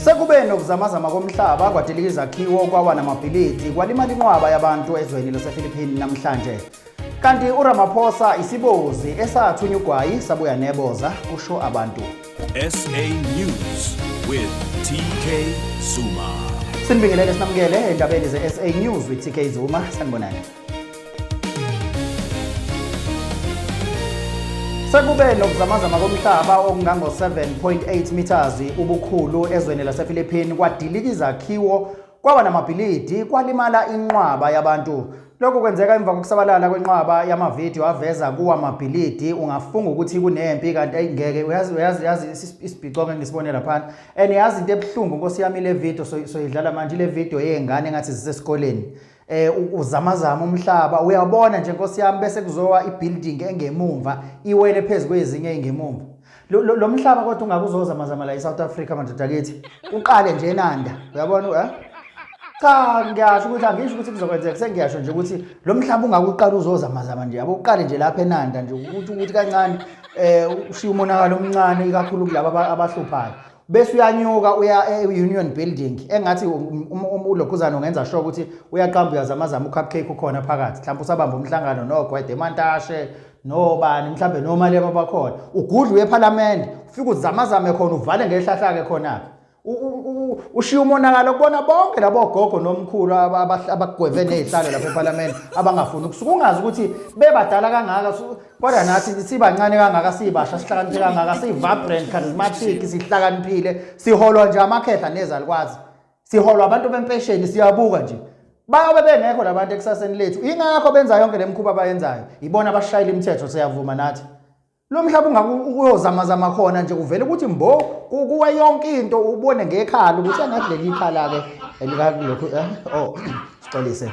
Sekube nokuzamazama komhlaba kwadilika izakhiwo kwawa namabhilidi kwalimala inqwaba yabantu ezweni lasePhilippine namhlanje. Kanti uRamaphosa isibozi esathunya ugwayi sabuya neboza kusho abantu. SA News with TK Zuma. Sinibingelele sinamukele endabeni ze-SA News with TK Zuma. Sanibonani. Sekube nokuzamazama komhlaba okungango-7.8 meters ubukhulu ezweni lasePhilippine kwadilika izakhiwo kwaba namabhilidi kwalimala inqwaba yabantu lokhu kwenzeka emva kokusabalala kwenqwaba yamavidiyo aveza kuwa mabhilidi ungafunga ukuthi kunempi kanti ayingeke uyazi uyazi yazi isibhicongo engisibone laphana and yazi into ebuhlungu nkosi yami le video soyidlala manje le video yey'ngane engathi zisesikoleni so eh uzamazama umhlaba uyabona nje nkosi yami bese kuzowa ibuilding engemumva iwele phezulu kwezinye engemumva lo mhlaba kodwa ungakuzoza mazama la eSouth Africa madoda kithi uqale nje enanda uyabona eh cha ngiyasho ukuthi angisho ukuthi kuzokwenzeka sengiyasho nje ukuthi lo mhlaba ungakuqala uzoza mazama nje yabo uqale nje lapha enanda nje ukuthi ukuthi kancane eh ushiya umonakalo omncane ikakhulu kulabo abahluphayo bese uyanyuka uya e-union building engathi um, um, um, ulokhuzana ungenza sure ukuthi uyaqamba uyazamazama ucupcake ukhona phakathi mhlawumbe usabamba umhlangano nogwede emantashe nobani mhlawumbe nomalema abakhona ugudla uye ephalamende ufike uzamazame khona uvale ngehlahlake khona-ke ushiya umonakalo kubona bonke labo gogo nomkhulu abagweve nezihlalo lapha ePhalamende abangafuni ukusuka ungazi ukuthi bebadala kangaka kodwa nathi sibancane kangaka sibasha sihlakaniphe kangaka sivibrant charismatic sihlakaniphile siholwa nje amakhehla nezalukwazi siholwa abantu bempesheni siyabuka nje bayobe bengekho labantu ekusaseni lethu ingakho benza yonke le mkhuba abayenzayo yibona abashayela imithetho siyavuma nathi lo mhlaba ungakuyozamazama khona nje kuvele ukuthi mbo kuwe yonke into ubone ngekhala ukuthi angathi leli ikhala-ke elikakulokhu eh, o oh, sixolise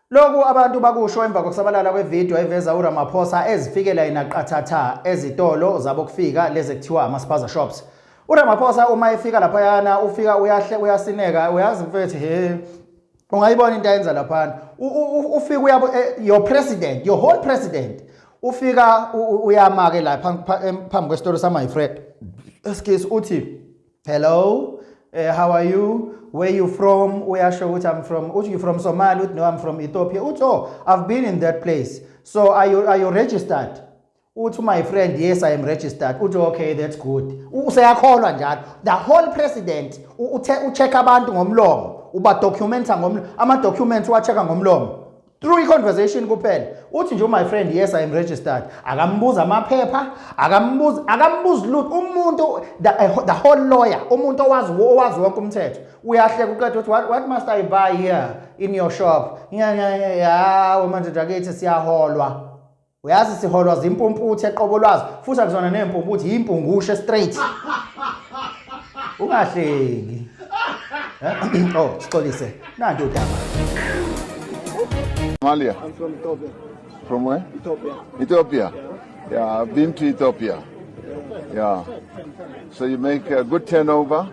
Lokhu abantu bakusho emva kokusabalala kwevideo eveza uRamaphosa ezifikela yena qathatha ezitolo zabokufika lezi kuthiwa ama-spaza shops. URamaphosa uma efika laphayana ufika uyahle uyasineka uyazi mfethu he ungayibona into ayenza laphana ufika uyabo eh, your president your whole president ufika uyamake la phambi kwesitolo sama-fred excuse uthi hello eh, how are you where you from uyasho ukuthi i'm from uthi you from somali uthi no i'm from ethiopia uthi oh i've been in that place so are you, are you registered uthi my friend yes i am registered uthi okay that's good useyakholwa njalo the whole president ucheck abantu ngomlomo uba documenta ngomlomo ama documents uwacheck ngomlomo through i-conversation kuphela uthi nje my friend yes i am registered akambuza amaphepha akambuzi akambuzi lutho umuntu the, eh, the whole lawyer umuntu owazi owazi wonke umthetho uyahleka uqeda ukuthi what, what must i buy here in your shop ya manje dakithi siyaholwa uyazi siholwa zimpumputhe eqobo lwazo futhi akuzona neempumputhi yimpungushe straight ungahleki eh? oh sixolise nanti udaba Somalia. I'm from Ethiopia. From where? Ethiopia. Ethiopia. Yeah, I've been to Ethiopia. Yeah. So you make a good turnover?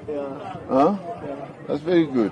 Yeah. Huh? Yeah. That's very good.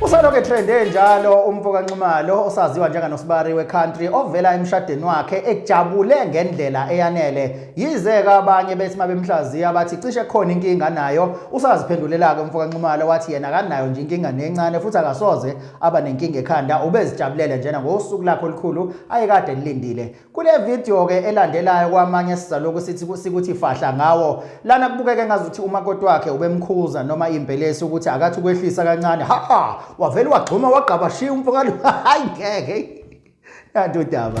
Usalokhu etrende njalo umfo kaNxumalo osaziwa njenganosibari we-country ovela emshadeni wakhe ejabule ngendlela eyanele. Yize-ke abanye bethi mabemhlaziya abathi cishe khona inkinga nayo, usaziphendulelake umfo kaNxumalo wathi yena akanayo nje inkinga nencane futhi akasoze aba nenkinga ekhanda, ubezijabulele njena ngosuku lakhe olukhulu ayekade elilindile. Kule video ke elandelayo kwamanye sizaloku sithi sikuthi fahla ngawo lana kubukeke ngazuthi umakoti wakhe ubemkhuza noma impelesi ukuthi akathi ukwehlisa kancane ha ha wavele wagxuma wagqaba shiya umfokalo hayi ngeke kanti udaba